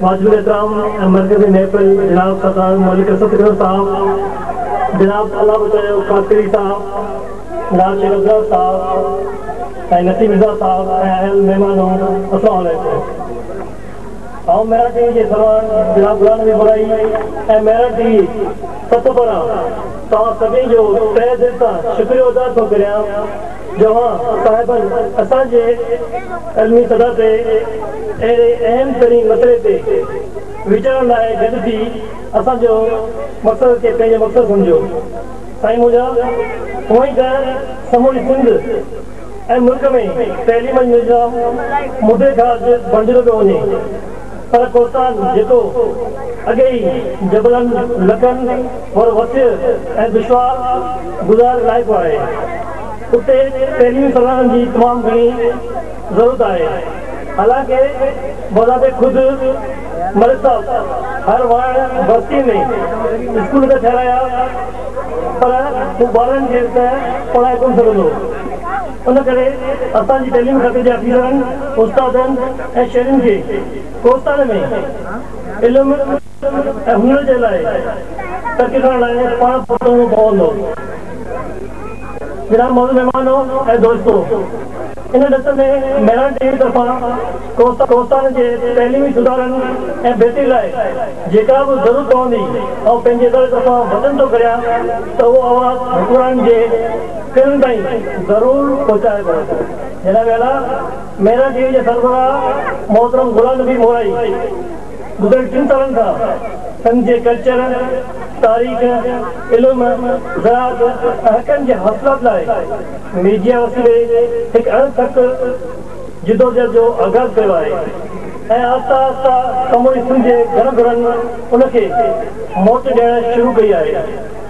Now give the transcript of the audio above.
واجب الاحترام ۽ مرڪزي محفل جناب سردار ملڪ سدگرو صاحب، جناب الله بچايو خاصخيلي صاحب، جناب شيخ ابرار صاحب ۽ نسيم رضا صاحب ۽ آيل مهمانو السلام عليڪم. آئون ميرٺ ٽي وي جي سرواڻ جناب غلام نبي ٻرائي ۽ ميرٺ ٽي وي ست پاران توهان سڀني جو تهه دل سان شڪريو ادا ٿو ڪريان، جوان صاحبن اسان جي علمي سطح تي اهڙي اهم ترين مسئلي تي ويچارڻ لاء گڏ ٿي اسان جو مقصد کي پنهنجو مقصد سمجهيو سائين منهنجا هونئن ته سموري سنڌ ۽ ملڪ ۾ تعليم جي نظام مدي کان اڳ بڻجندو پيو وڃي پر ڪوهستان جيڪو اڳي ئي جبلن، لڪن، ور وسيع ۽ دشوار گذار علائقو آهي، اتي تعليمي سرانجام جي تمام گهڻي ضرورت آهي، حالانڪه بذات خود ملڪ صاحب هر واڻ بستيء ۾ اسڪول ته ٺهرايا، پر هو ٻارن کي ته پڙهائي ڪونه سگهندو. ان ڪري اسان جي تعليم کاتي جي آفيسرن، استادن ۽ شهرين کي ڪوستان ۾ علم ۽ هنر جي لاء ترقي ڪرڻ لاء پاڻ پرتوڻو پوندو. جناب معزز مهمانو ۽ دوستو! ان ڏس ۾ مهراڻ ٽي وي طرفان ڪوستان جي تعليمي سڌارن ۽ بهتري لاء جيڪا به ضرورت پوندي آئون پنهنجي اداري طرفان وچن ٿو ڪريان ته اهو آواز حڪمرانن جي تن تائين ضرور پهچايو ويندو. هن ويلا ميرا ٽي وي جي سربراهه محترم غلام نبي مورائي گذريل ٽن سالن کان سنڌ جي ڪلچر، تاريخ، علم، زراعت ۽ حقن جي حاصلات لاء ميڊيا وسيلي هڪ اڻ ٿڪ جدوجهد جو آغاز ڪيو آهي ۽ آهسته آهسته سموري سنڌ جي گهر گهرن ان کي موٽ ڏيڻ شروع ڪئي آهي.